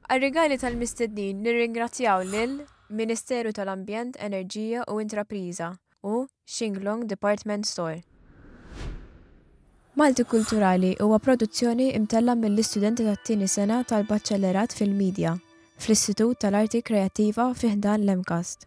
Għar-rigali tal-mistednin nirringrazzjaw lil Ministeru tal-Ambjent, Enerġija u Intrapriża u Xinglong Department Store. Malti Kulturali huwa produzzjoni mtellgħa mill-istudenti tat-tieni sena tal-Baċellerat fil-Midja fl-Istitut tal-Arti Kreattiva fi ħdan l-MCAST.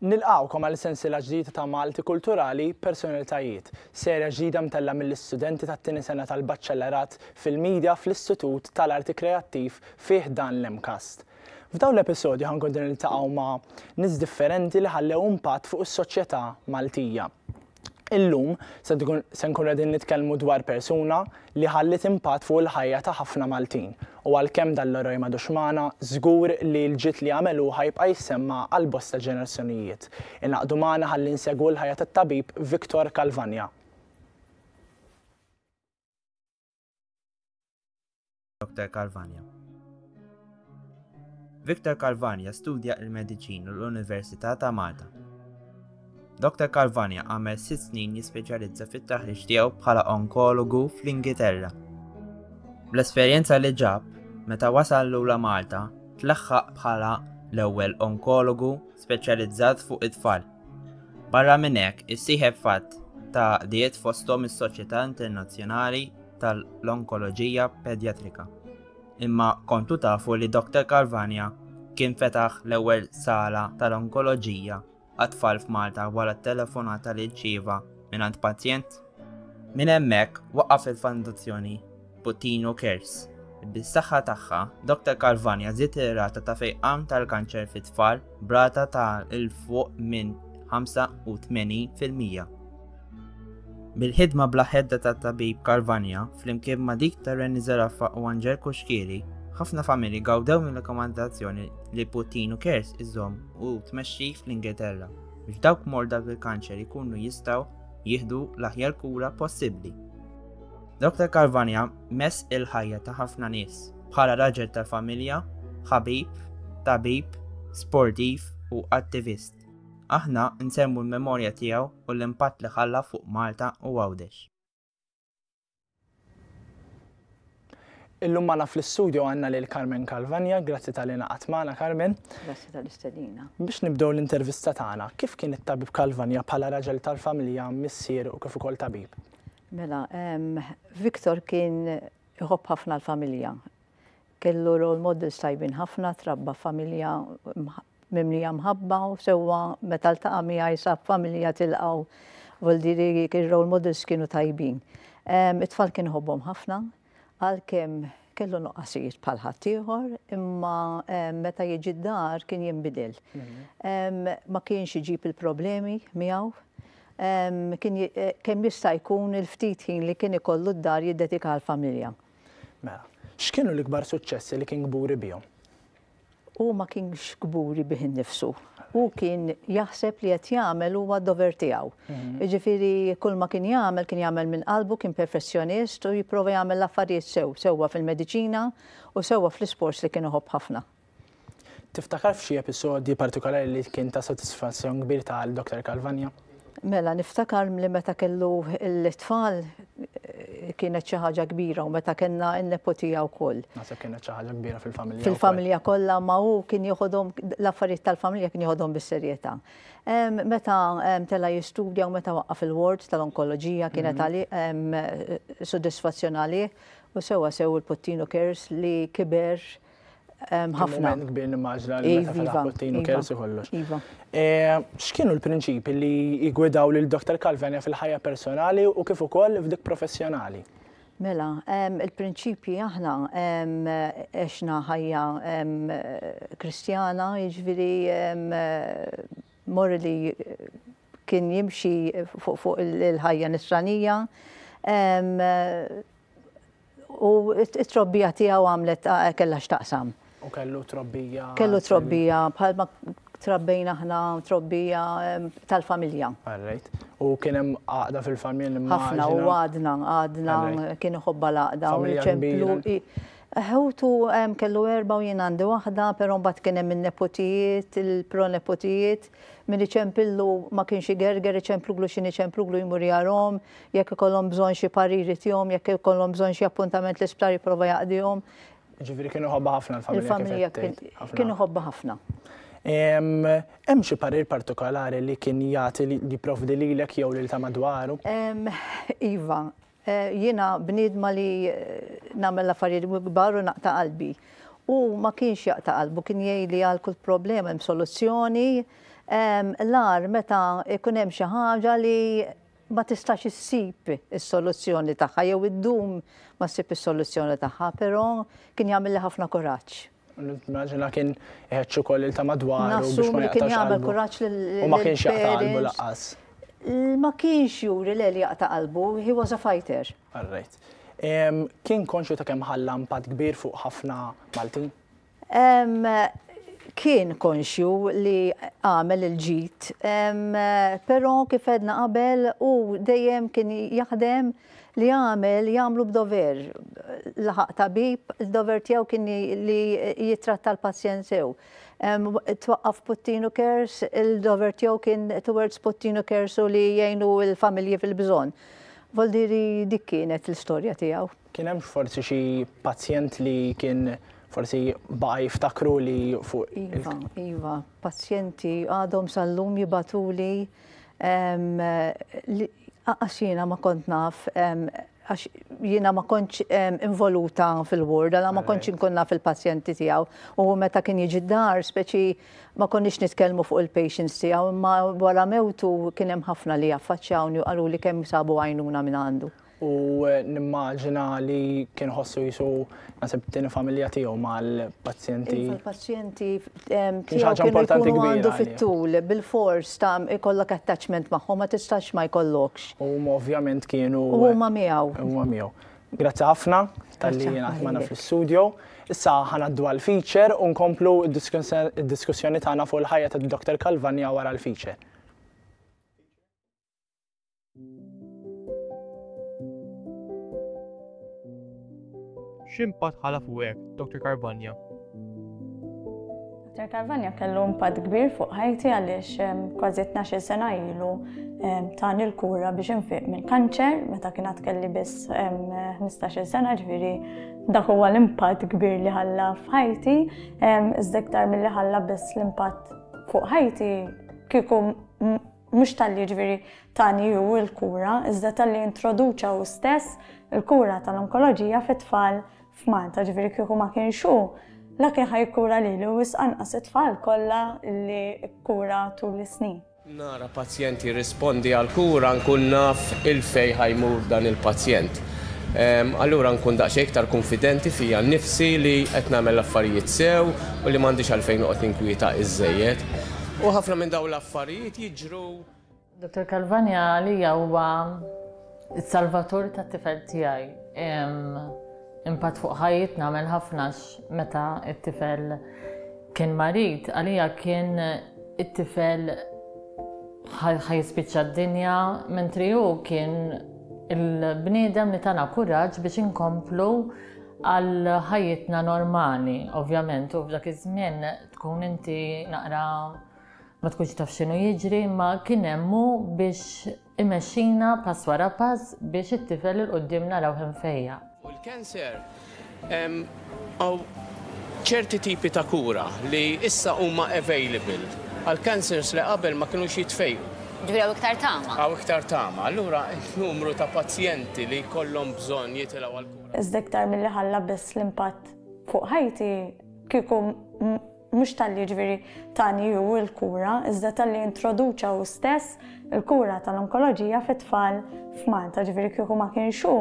Nilqawkom għal sensila ġdida ta' Malti Kulturali Personalitajiet, serja ġdida mtella mill-istudenti tat-tieni sena tal-Baċċellerat fil-Media fl-Istitut tal-Arti Kreattiv fih dan l-MCAST. F'dawn l-episodju ħankun niltaqgħu ma' nies differenti li ħallew impatt fuq is-soċjetà Maltija. Illum se nkunu qegħdin nitkellmu dwar persuna li ħalliet impatt fuq il-ħajja ta' ħafna Maltin u għalkemm dan l-eroj m'għadux magħna, żgur li l-ġid li għamel hu ħa jibqa' jissemma għal bosta ġenerazzjonijiet. Ingħaqdu magħna ħalli nsegwu l-ħajja tat-Tabib Victor Calvagna. Dr. Carvania. Victor Carvania studja il-mediċin l-Università ta' Malta. Dr. Carvania għamel sitt snin jispeċjalizza fit-taħriġ tiegħu bħala onkologu fl-Ingilterra. Bl-esperjenza li ġab, meta wasal lula Malta, tlaħħaq bħala l-ewwel onkologu speċjalizzat fuq it-tfal. Barra minn hekk, issieħeb f'għadd ta' għaqdiet fosthom is-Soċjetà Internazzjonali tal-Onkoloġija Pedjatrika. Imma kontu tafu li Dr. Carvania kien fetaħ l-ewwel sala tal-onkoloġija għat-tfal f'Malta wara t-telefonata li rċieva mingħand pazjent? Minn hemmhekk waqaf il-fondazzjoni Bottino Cares. Bis-saħħa tagħha, Dr Calvani għażiet ir-rata ta' fejqan tal-kanċer fit-tfal b'rata ta' 'l fuq minn 85 fil-mija. Bil-ħidma bla ħedda tat-tabib Calvania flimkien ma' dik ta' Renny Zeraffa u Anġel Kuxkieri, ħafna familji gawdew mill-rakkomandazzjoni li Bottino Cares iżomm u tmexxi fl-Ingilterra biex dawk morda bil-kanċer ikunu jistgħu jieħdu l-aħjar kura possibbli. Dr. Carvania mess il-ħajja ta' ħafna nies bħala raġel ta' familja, ħabib, tabib, sportiv u attivist. Aħna nsemmu l-memorja tiegħu u l-impatt li ħalla fuq Malta u Għawdex. Illum magħna fl-istudju għandna lil Carmen Calvania, grazzi tal-li naqgħat magħna Carmen. Grazzi tal-istedina. Biex nibdew l-intervista tagħna, kif kien it-tabib Calvania bħala raġel tal-familja, missier u kif ukoll tabib? Mela, Victor kien iħobb ħafna l-familja. Kellu role models tajbin ħafna, trabba familja mimlija mħabba u sewwa meta ltaqa' miegħi sab familja tilqgħu. Vuol dire role models kienu tajbin. It-tfal kien iħobbhom ħafna, Għalkemm kellu nuqqasijiet bħal ħaddieħor, imma meta jiġi d-dar kien jinbidel. Ma kienx iġib il-problemi miegħu. Kemm jista' jkun il-ftit ħin li kien ikollu d-dar jiddedika għall-familja. Mela, x'kienu l-ikbar suċċessi li kien kburi bihom? Hu ma kienx kburi bih innifsu. Hu kien jaħseb li qed jagħmel huwa dover tiegħu. Mhm. Jiġifieri kull ma kien jagħmel kien jagħmel minn qalbu, kien perfessjonist u jipprova jagħmel l-affarijiet sew, sewwa fil-mediċina u sewwa fl-isports li kien iħobb ħafna. Tiftakar f'xi episodji partikolari li kien ta' sodisfazzjon kbir ta' Dr. Calvagna? Mela, niftakar li meta kellu l-tfal kienet xi ħaġa kbira u meta kellna n-nepotija wkoll. Naħseb kienet xi ħaġa kbira fil-familja. Fil-familja kollha ma hu kien joħodhom l-affarijiet tal-familja kien joħodhom bis-serjetà. Meta tela' jistudja u meta waqqaf il-ward tal-onkoloġija kienet għalih sodisfazzjon għalih u sewwa sew il-Puttinu Cares li kiber ħafna. Kbir nimmaġna li meta fetaħ Putin u Kelsi kollox. Iva. Eh, x'kienu l-prinċipi li jgwidaw lil Dr. Calvania fil-ħajja personali u kif ukoll f'dik professjonali? Mela, il-prinċipji aħna eċna ħajja kristjana, iġviri morri li kien jimxi fuq il-ħajja nisranija. U t-trobbija tiegħu għamlet kellha x'taqsam. U kellu trobbija. Kellu trobbija bħalma trabbejna aħna trobbija tal-familja. Alright. U kien hemm għaqda fil-familja li Ħafna u għadna, għadna kien iħobba l-għaqda u ċemplu. Ħewtu kellu erba' u jien għandi waħda, però mbagħad kien hemm in-neputijiet, il-proneputijiet Min iċempillu ma kienx igerger, iċempluglu x'in iċempluglu jmur jarhom, jekk ikollhom bżonn xi parir itihom, jekk ikollhom bżonn xi appuntament l-isptar jipprova jaqdihom. Ġifieri kien iħobbha ħafna l-familja. Il-familja kien iħobbha ħafna. Hemm xi parir partikolari li kien jagħti li jipprovdi lilek jew lil ta' madwaru? Iva, Jiena bniedma li nagħmel l-affarijiet kbar u naqta' qalbi. Hu ma kienx jaqta' qalbu, kien jgħid li għal kull problema hemm soluzzjoni. L-agħar meta jkun hemm xi ħaġa li ma tistax issib is-soluzzjoni tagħha jew iddum ma ssib is-soluzzjoni tagħha, però kien jagħmilli ħafna kuraġġ. Naġina kien iħedġ ukoll il ta' madwaru biex ma jaqtax qalbu. U ma kienx jaqta' qalbu laqas. Ma kienx juri l jaqta' qalbu, he was a fighter. Alright. Kien konxu ta' kemm ħalla impatt kbir fuq ħafna Maltin? Kien konxju li għamel il-ġid, però kif għedna qabel u dejjem kien jaħdem li għamel jagħmlu b'dover. Laħaq tabib, id-dover tiegħu kien li jitratta l-pazjent sew. Twaqqaf Puttinu Cares, il-dover tiegħu kien towards Puttinu Cares u li jgħinu l-familji fil-bżonn. Voldiri dik kienet l-istorja tiegħu. Kien hemm forsi xi pazjent li kien forsi baqa' jiftakru li fuq. Iva, iva, pazjenti għadhom sal-lum jibatuli. Għax jiena ma kont naf, għax jiena ma kontx involuta fil-ward, għala ma kontx inkun naf il-pazjenti tiegħu. U hu meta kien jiġi d-dar, speċi ma konniex nitkellmu fuq il-patients tiegħu, imma wara mewtu kien hemm ħafna li affaċċjawni u qaluli kemm sabu għajnuna minn għandu. u nimmaġina li kien iħossu jisu naħseb tieni familja tiegħu mal-pazjenti. Iva, Il-pazjenti tiegħu kienu jkunu għandu fit-tul, bil-fors ta' ikollok attachment magħhom ma tistax ma jkollokx. U ovvjament kienu. U huma miegħu. Huma miegħu. Grazzi ħafna tal-li jingħad magħna fl-istudio. Issa ħanaddu għal-feature u nkomplu d-diskussjoni tagħna fuq il-ħajja tad-Dr. Kalvanja wara l-feature. X'impatt ħala fuqek, Dr. Carvagna? Dr. Carvagna kellu impatt kbir fuq ħajti għaliex ehm, kważi 12 sena ilu ehm, tani l-kura biex infiq minn kanċer meta kien kelli biss 15 ehm, sena ġviri dak huwa l-impatt kbir li ħalla f'ħajti, iżda iktar milli ħalla biss l-impatt fuq ħajti kieku Mhux talli jiġifieri tani hu l-kura, iżda talli introduċa hu stess il-kura tal-onkoloġija fit-tfal f'Malta, ġifieri kieku ma kienx hu, la kien ħa jikkura lilu wisq anqas it-tfal kollha li kkura tul is-snin. Nara pazjent jirrispondi għall-kura nkun naf il-fejn ħa jmur dan il-pazjent. Allura nkun daqsxejn iktar kunfidenti fija nnifsi li qed nagħmel l-affarijiet sew u li m'għandix għalfejn noqgħod ninkwieta iżżejjed. U ħafna minn dawn l-affarijiet jiġru. Dottor Calvagna għalija huwa s-salvatur tat-tifel tiegħi. Impatt fuq ħajjitna għamel ħafna meta t-tifel kien marid, għalija kien it-tifel ħajspiċċa d-dinja, mentri hu kien il-bniedem li tana kuraġġ biex inkomplu għal ħajjitna normali, ovvjament, u f'dak iż-żmien Tkun inti naqra ma tkunx taf x'inhu jiġri, ma kien hemmu biex imexxina pass wara pass biex it-tifel il quddiem naraw hemm fejja. U l-cancer hawn ċerti tipi ta' kura li issa huma available għal cancers li qabel ma kinux jitfejqu. Ġifieri hawn iktar tama. Hawn iktar tama. Allura n-numru ta' pazjenti li jkollhom bżonn jitilgħu għall-kura. Iżda iktar milli ħalla biss l-impatt fuq ħajti, Kieku mhux talli jiġifieri tani hu l-kura, iżda talli introduċa hu stess il-kura tal-onkoloġija fit-tfal f'Malta, ġifieri kieku ma kienx hu,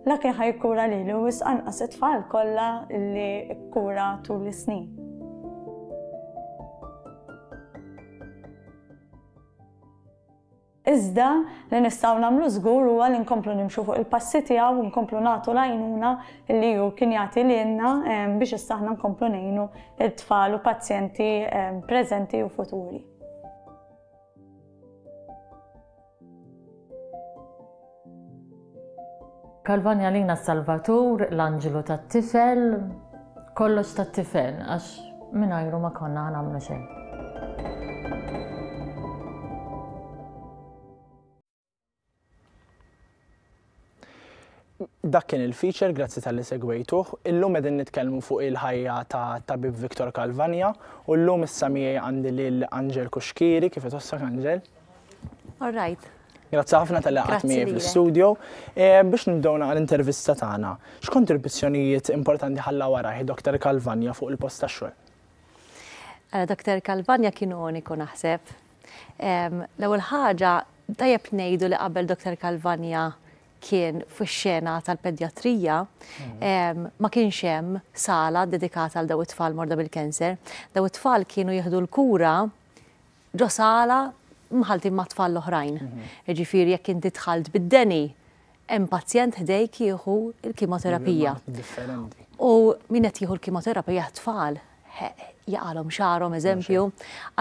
la kien ħa jikkura lili u wisq anqas it-tfal kollha li kkura tul is-snin. Iżda, li nistgħu nagħmlu żgur huwa li nkomplu nimxu fuq il-passi tiegħu u nkomplu nagħtu l-għajnuna li hu kien jagħti lilna biex issa aħna nkomplu ngħinu t-tfal u pazjenti preżenti u futuri. Kalvani għalina s-Salvatur, l-Anġlu tat-Tifel, kollox tat-Tifel, għax mingħajru ma konna ħanamlu xejn. Dak kien il-feature, grazzi tal-li segwejtuh. Illum edin nitkellmu fuq il-ħajja ta' tabib Viktor Kalvanja u llum issa miegħi għandi lil Angel Kuxkiri, kif tossak Angel? All right. Grazzi ħafna tal-li għatmi fl-studio. E, biex nibdewna għal-intervista tagħna, x'kontribuzzjonijiet importanti ħalla wara Dr. Kalvanja fuq il-post tax-xogħol? Eh, Dr. Kalvanja kien uniku naħseb. L-ewwel ħaġa tajjeb ngħidu li qabel Dr. Kalvanja kien fix-xena tal-pedjatrija mhm. ma kienx hemm sala dedikata għal daw it-tfal morda bil-kanser. Daw it-tfal kienu jieħdu l-kura ġo sala mħalltin ma' tfal l-oħrajn. Jiġifieri jekk inti dħalt bid-deni, hemm pazjent ħdejk jieħu l-kimoterapija. U min qed jieħu l-kimoterapija t-tfal, jaqalhom xagħarhom eżempju.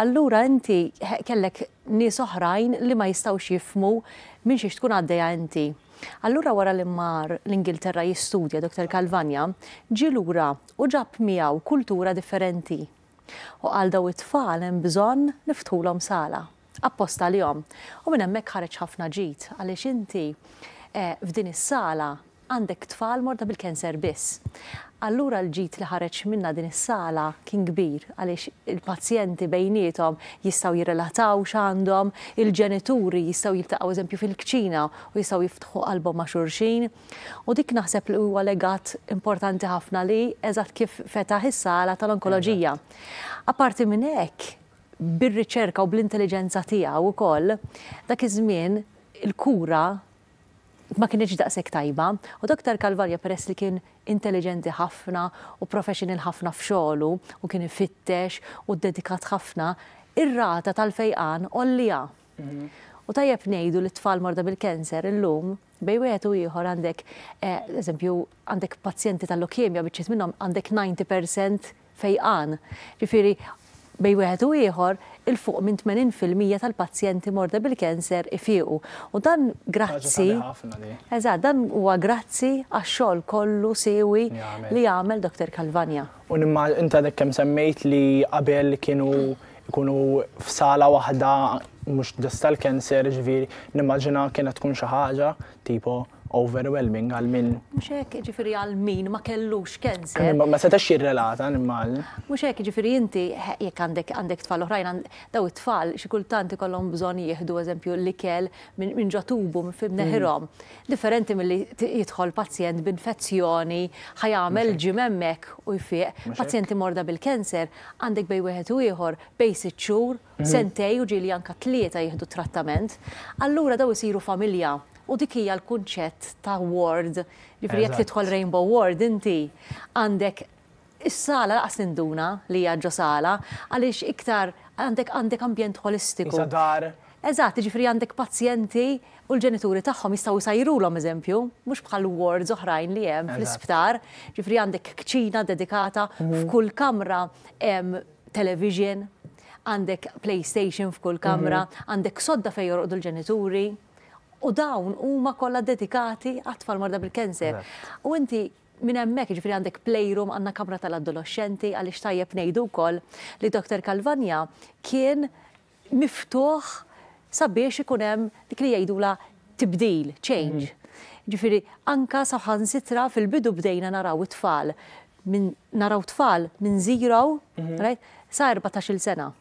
Allura inti kellek nies oħrajn li ma jistgħux jifhmu minn xiex tkun għaddejja inti. Allura wara li mar l-Ingilterra jistudja Dr. Calvagna, ġie lura u ġab miegħu kultura differenti. U għal daw it-tfal hemm bżonn niftħulhom sala, apposta għalihom. U minn hemmhekk ħareġ ħafna ġid, għaliex inti f'din is-sala għandek tfal morda bil-cancer biss. Allura l-ġid li ħareġ minnha din is-sala kien kbir, għaliex il-pazjenti bejniethom jistgħu jirrelataw x'għandhom, il-ġenituri jistgħu jiltaqgħu eżempju fil-kċina u jistgħu jiftħu qalbhom ma' xulxin. U dik naħseb li huwa legat importanti ħafna li eżatt kif fetaħ is-sala tal-onkoloġija. Apparti minn hekk, bir-riċerka u bl-intelliġenza tiegħu wkoll, dak iż-żmien il-kura ma kinitx daqshekk tajba u Doktor Calvaria peress li kien intelliġenti ħafna u professional ħafna f'xogħlu u kien ifittex u ddedikat ħafna, ir-rata tal-fejqan għollija. U tajjeb ngħidu li t-tfal morda bil-cancer illum, Bejn wieħed u ieħor għandek, eżempju, għandek pazjenti tal-lukemja biċċiet minnhom għandek 90% fejqan. Ġifieri bejn wieħed u ieħor il-fuq minn 80 fil-mija tal-pazjenti morda bil-cancer ifiequ. U dan grazzi. Eżatt, dan huwa grazzi għax-xogħol kollu siewi li għamel Dottor Calvagna. U nimma inti għadek kemm semmejt li qabel kienu ikunu f'sala waħda mhux dess tal-cancer, ġifieri nimmaġina kienet tkun xi ħaġa tipo overwhelming għal min. Mhux hekk, ġifieri għal min ma kellux cancer. Ma setax jirrelata nimmaġina. Mhux hekk, ġifieri inti jekk għandek għandek tfal oħrajn, daw it-tfal xi kultant ikollhom bżonn jieħdu eżempju l-ikel minn ġo tubu minn neħirhom. Differenti milli jidħol pazjent b'infezzjoni, ħa jagħmel gym hemmhekk u jfieq. Pazjenti morda bil-cancer Għandek bejn wieħed u ieħor bejn sitt xhur, sentejn u ġieli anke tlieta jieħdu t-trattament. Allura dawn isiru familja u dik hija l-kunċett ta' ward. Jiġifieri jekk tidħol rainbow ward inti għandek is-sala lanqas ninduna li hija ġo sala għaliex iktar għandek għandek ambjent ħolistiku. Qisha dar. Eżatt, jiġifieri għandek pazjenti u l-ġenituri tagħhom jistgħu jsajrulhom eżempju, mhux bħal wards oħrajn li hemm fl-isptar, jiġifieri għandek kċina dedikata, f'kull kamra hemm television, għandek playstation f'kull kamra, għandek sodda fejn jorqdu l-ġenituri, u dawn huma kollha dedikati għat-tfal morda bil-cancer. U inti minn hemmhekk, jiġifieri għandek playroom, għandna kamra tal-adoloxxenti, għaliex tajjeb ngħidu wkoll li Doctor Calvagna kien, miftuħ sabiex ikun hemm dik li jgħidulha tibdil, change. Jiġifieri anke saħansitra fil-bidu bdejna naraw it-tfal minn naraw tfal minn zero sa erbatax-il sena.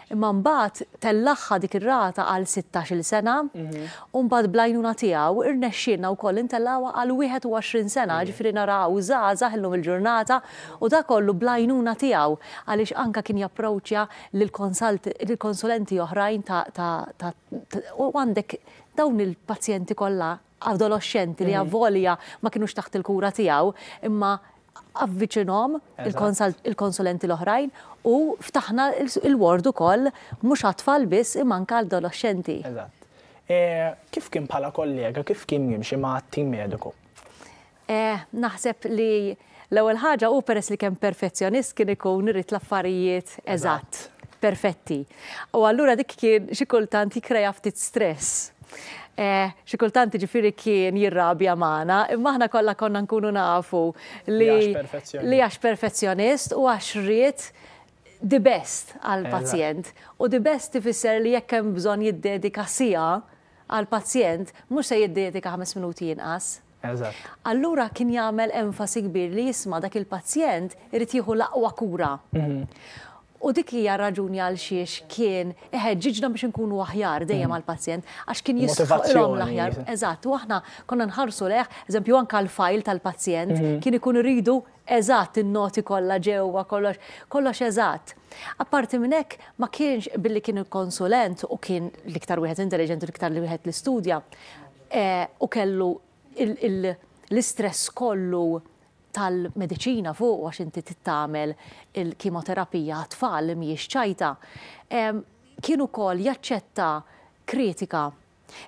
Imma mbagħad tellagħha dik ir-rata għal sittax-il sena u mbagħad bl-għajnuna tiegħu rnexxielna wkoll intellgħuha għal wieħed u għoxrin sena, jiġifieri naraw żgħażagħ illum il-ġurnata u dak kollu bl-għajnuna tiegħu għaliex anke kien japproċċja lil konsulenti oħrajn ta' u għandek dawn il-pazjenti kollha adoloxxenti li avolja ma kinux taħt il-kura tiegħu imma avviċinhom il-konsulenti l-oħrajn u ftaħna l-ward ukoll mhux għat-tfal biss imma anke għall-adoloxxenti. Eżatt. Kif kien bħala kollega, kif kien jimxi ma' tim mediku? Eh, naħseb li l-ewwel ħaġa hu peress li kemm perfezzjonist kien ikun irid l-affarijiet eżatt, perfetti. U allura dik kien xi kultant jikkreja ftit stress. Eh, xi kultant ġifiri kien jirrabja magħna, imma aħna kollha konna nkunu nafu li li għax perfezzjonist u għax ried the best għal pazjent. U the best tifisser li jekk hemm bżonn jiddedika sija għal pazjent, mhux se jiddedika ħames minuti jinqas. Eżatt. Allura kien jagħmel enfasi kbir li isma' dak il-pazjent irid jieħu l-aqwa kura. U dik hija r-raġuni għalxiex kien iħeġġiġna biex inkunu aħjar dejjem għall-pazjent, għax kien jisħaqilhom l-aħjar. Motivazzjoni. Eżatt, u aħna konna nħarsu lejh, eżempju anke l-fajl tal-pazjent, kien ikun iridu eżatt in-noti kollha ġewwa kollox, kollox eżatt. Apparti minn hekk, ma kienx, billi kien il-konsulent u kien l-iktar wieħed intelliġenti u l-iktar wieħed li studja, u kellu l-istress kollu tal-mediċina fuqu għax inti trid tagħmel il-kimoterapija għat-tfal li mhijiex ċajta, kien ukoll jaċċetta kritika.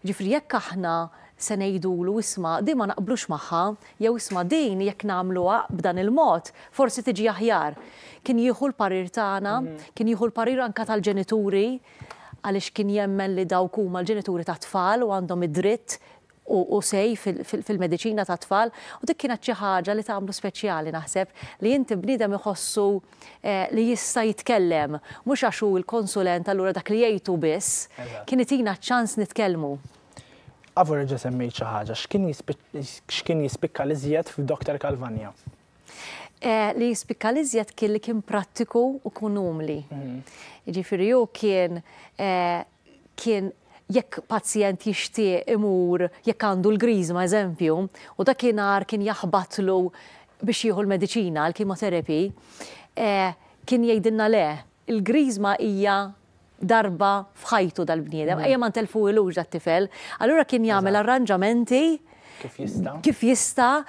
Jiġifieri jekk aħna se ngħidulu isma' din ma naqblux magħha jew isma' din jekk nagħmluha b'dan il-mod forsi tiġi aħjar. Kien jieħu l-parir tagħna, kien jieħu l-parir anke tal-ġenituri għaliex kien jemmen li dawk huma l-ġenituri tat-tfal u għandhom id-dritt u say fil-mediċina tat-tfal u dik kienet xi ħaġa li tagħmlu speċjali naħseb li inti bniedem iħossu li jista' jitkellem mhux għax hu l-konsulent allura dak li jgħid hu biss, kien itina ċ-ċans nitkellmu. Avoreġa semmejt xi ħaġa, x'kien jispikka l-iżjed f'Doktor Calvagna? Li jispikka l-iżjed kien li kien prattiku u kun umli. Mhm. Jiġifieri hu kien kien jekk pazjent jixtieq imur jekk għandu l-griżma eżempju, u dakinhar kien jaħbatlu biex jieħu l-mediċina, l-kimoterapi, kien jgħidilna le, il-griżma hija darba f'ħajtu dal-bniedem, ejja ma ntelfuhilux dat-tifel. Allura kien jagħmel arranġamenti kif jista'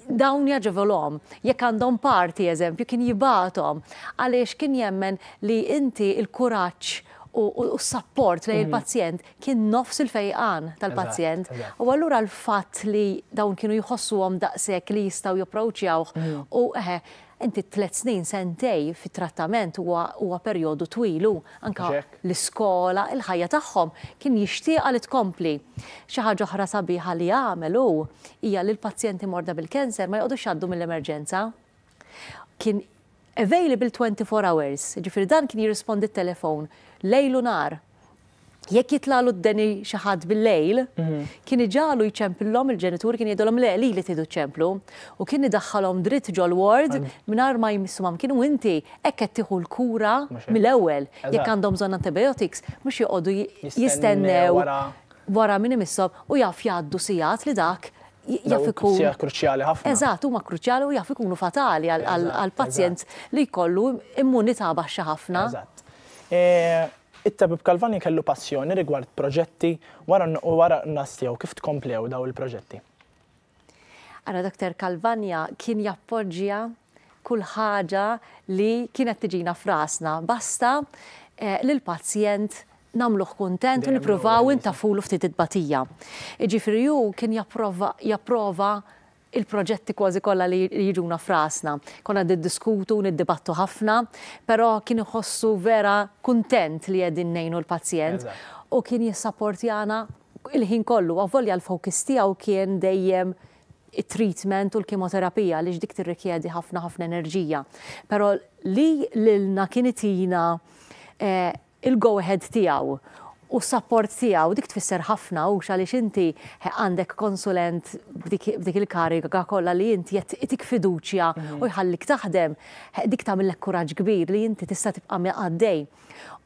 dawn jaġevolhom. Jekk għandhom parti, eżempju, kien jibgħathom għaliex kien jemmen li inti l-kuraġġ u s-sapport lejn il-pazjent kien nofs il-fejqan tal-pazjent. U allura l-fatt li dawn kienu jħossuhom daqshekk li jistgħu japproċjawh u eħe, Inti t-tliet snin, sentej, fit-trattament huwa huwa perjodu twil u, anke, l-iskola, il-ħajja tagħhom, kien jixtieqha li tkompli. Xi ħaġa oħra sabiħa li għamel hu hija li l-pazjenti morda bil-cancer ma joqgħodux jgħaddu mill-emerġenza. Kien available 24 hours, jiġifieri dan kien jirrispondi t-telefon lejl u nhar. Jekk jitlagħlu d-deni xi ħadd bil-lejl, kien iġagħlu jċempillhom, il-ġenituri kien jgħidulhom le, lili tridu ċċemplu, u kien idaħħalhom dritt ġol-ward mingħajr ma jmissu mamkin u inti hekk qed tieħu l-kura mill-ewwel. Jekk għandhom bżonn antibiotics mhux joqogħdu jistennew wara min imisshom u jaf jgħaddu sigħat li dak jaf ikun. Sigħat kruċjali ħafna. Eżatt, huma kruċjali u jaf ikunu fatali għall-pazjent li jkollu immunità baxxa ħafna. Eżatt. It-Tabib Calvani kellu passjoni rigward proġetti wara u wara n-nuqqas tiegħu kif tkomplew daw il-proġetti? Ara Doctor Calvania kien jappoġġja kull ħaġa li kienet tiġina f'rasna basta lill-pazjent nagħmluh kuntent u nippruvaw intafulu ftit it-tbatija. Jiġifieri hu kien japprova il-proġetti kważi kollha li jiġuna f'rasna. Konna qed niddiskutu u niddibattu ħafna, però kien iħossu vera kuntent li qegħdin ngħinu l-pazjent u kien jissapportjana l-ħin kollu, avolja l-focus tiegħu kien dejjem it-treatment u l-kimoterapija għaliex dik tirrikjedi ħafna ħafna enerġija. Però li lilna kien itina il-go ahead tiegħu u s-sapport tiegħu, dik tfisser ħafna hux għaliex inti għandek konsulent b'dik il-kariga kollha li int jagħtik fiduċja u jħallik taħdem, dik tagħmillek kuraġġ kbir li inti tista' tibqa' għaddej.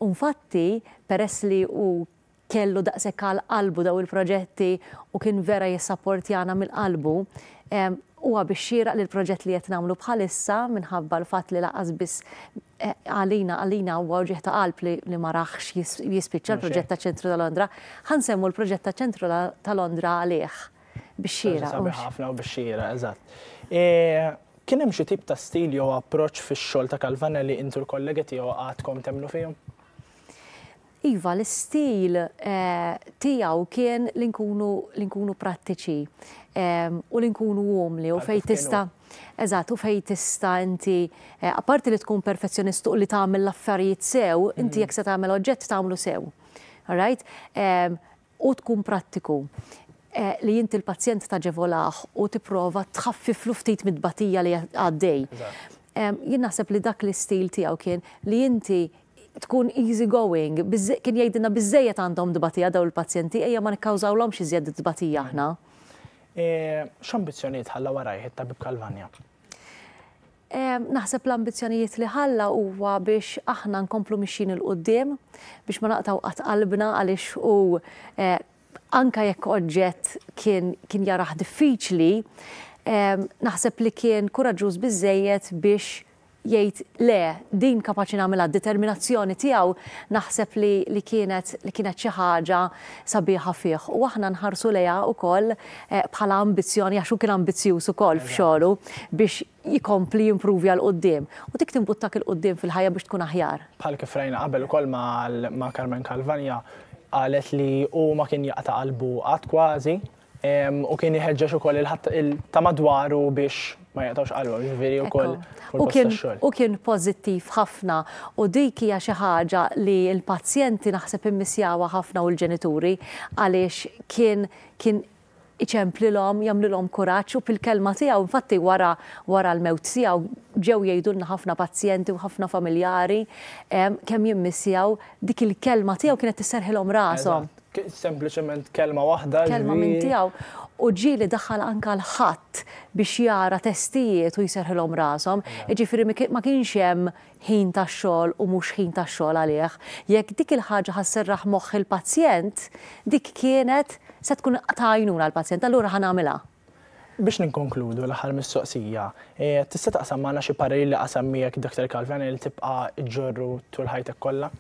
U nfatti, peress li hu kellu daqshekk għal qalbu dawn il-proġetti u kien vera jissapportjana minn qalbu, huwa bix-xieraq li l-proġett li qed nagħmlu bħalissa minħabba l-fatt li lanqas biss Għalina, għalina huwa wġigħ ta' qalb li ma rahx jispiċċa l-proġett taċ-Ċentru ta' Londra. Ħa nsemmu l-proġett taċ-Ċentru ta' Londra għalih bix-xieraq. Ħaġa sabiħa ħafna u bix-xieraq, eżatt. Kien hemm xi tip ta' stil jew approċċ fix-xogħol ta' Calvana li inti u l-kollegi tiegħu għadkom temmnu fihom? Iva, l-istil tiegħu kien li nkunu li nkunu prattiċi u li nkunu umli u fejn tista' eżatt u fejn tista' inti apparti li tkun perfezzjonist u li tagħmel l-affarijiet sew, inti jekk se tagħmel oġġett tagħmlu sew. All right? u tkun prattiku, li inti l-pazjent taġevolah u tipprova tħaffiflu ftit mit-tbatija li għaddej. Jien naħseb li dak l-istil tiegħu kien li inti tkun easy going, kien jgħidilna biżżejjed għandhom tbatija dawn il-pazjenti ejja ma nikkawżawlhomx iżjed tbatija aħna. X'ambizzjonijiet ħalla warajh it-Tabib Calvagna? Naħseb l-ambizzjonijiet li ħalla huwa biex aħna nkomplu mixjin 'il quddiem, biex ma naqtgħu qatt qalbna għaliex hu anke jekk oġġett kien kien jarah diffiċli, naħseb li kien kuraġġuż biżżejjed biex jgħid le, din kapaċi nagħmilha, d-determinazzjoni tiegħu naħseb li li kienet li kienet xi ħaġa sabiħa fih u aħna nħarsu lejha wkoll bħala ambizzjoni għax hu kien ambizzjuż ukoll f'xogħlu biex jkompli jimprovja 'l quddiem u dik timbuttak 'il quddiem fil-ħajja biex tkun aħjar. Bħal kif rajna qabel ukoll ma' Carmen Calvagna qalet li hu ma kien jaqta' qalbu qatt kważi u kien iħeġġeġ ukoll il ta' madwaru biex ma jaqtgħux qalbhom, jiġifieri wkoll fil-post tax-xogħol. Hu kien pożittiv ħafna u dik hija xi ħaġa li l-pazjenti naħseb immissjawha ħafna u l-ġenituri għaliex kien kien iċemplilhom, jagħmlilhom kuraġġ u fil-kelma tiegħu, infatti wara wara l-mewt tiegħu ġew jgħidulna ħafna pazjenti u ħafna familjari kemm jimmissjaw dik il-kelma tiegħu kienet tisserħilhom rashom. Eżatt, sempliċement kelma waħda. Kelma minn tiegħu. U ġieli daħħal anke l-Ħadd biex jara testijiet u jserħilhom rashom. Jiġifieri ma kienx hemm ħin ta' xogħol u mhux ħin ta' xogħol għalih, jekk dik il-ħaġa ħa sserraħ moħħ il-pazjent, dik kienet se tkun ta' għajnuna għall-pazjent, allura ħa nagħmilha. Biex ninkonkludu, l-aħħar mistoqsija, tista' taqsam magħna xi parir li qasam miegħek Dottor Calvena li tibqa' ġġorru tul ħajtek kollha?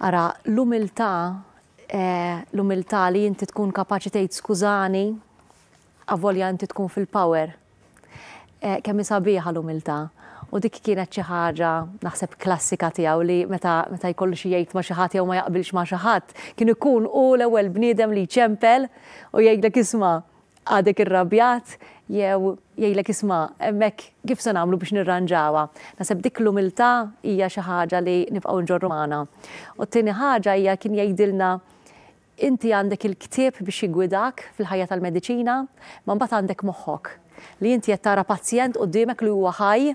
Ara, l-umiltà, l-umiltà li inti tkun kapaċi tgħid skużani, Avolja inti tkun fil-power. Kemm hi sabiħa l-umiltà. U dik kienet xi ħaġa, naħseb, klassika tiegħu li meta meta jkollu xi jgħid ma' xi ħadd jew ma jaqbilx ma' xi ħadd, kien ikun hu l-ewwel bniedem li jċempel u jgħidlek isma' għadek irrabjat jew jgħidlek isma' hemmhekk kif se nagħmlu biex nirranġawha. Naħseb dik l-umiltà hija xi ħaġa li nibqgħu nġorru magħna. U t-tieni ħaġa hija kien jgħidilna Inti għandek il-ktieb biex jiggwidak fil-ħajja tal-mediċina, imma mbagħad għandek moħħok, li inti qed tara pazjent quddiemek li huwa ħaj,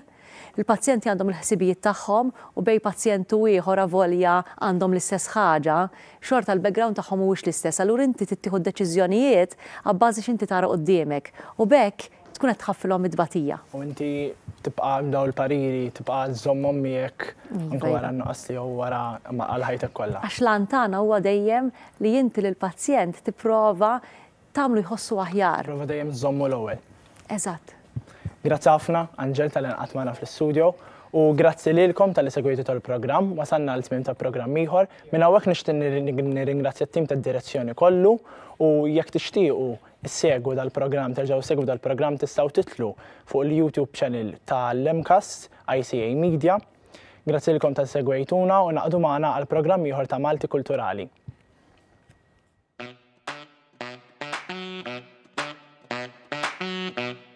il-pazjenti għandhom il-ħsibijiet tagħhom u bejn pazjent u ieħor avolja għandhom l-istess ħaġa, xorta l-background tagħhom mhuwiex l-istess, allura inti trid tieħu d-deċiżjonijiet abbażi x'inti tara quddiemek u b'hekk Tkun qed tħaffilhom it-tbatija. U inti tibqgħek dawn il-pariri, tibqa' żżommhom miegħek anke wara n-nuqqas tiegħu wara għal ħajtek kollha. Għax l-għan tagħna huwa dejjem li inti lill-pazjent tipprova tagħmlu jħossu aħjar. Tipprova dejjem żżommu l-ewwel. Eżatt. Grazzi ħafna, Anġel, talli nqgħadt magħna fl-istudjo. U grazzi lilkom talli segwejtu tal-programm. Wasalna għal tmiem ta' programm ieħor. Minn hawnhekk nixtieq nirringrazzja t-tim tad-direzzjoni kollu u jekk tixtiequ Segwu dal-programm Terġgħu segwu dal-programm tistgħu titlu fuq il-YouTube channel ta' l-MCAST ICA Media. Grazzi lilkom tal segwejtuna u naqdu magħna għal programm ieħor ta' Malti Kulturali.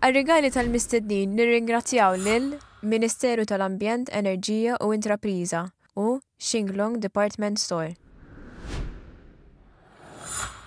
Għar-rigali tal-mistednin nirringrazzjaw lil Ministeru tal-Ambjent, Enerġija u Intrapriża u Shinglong Department Store.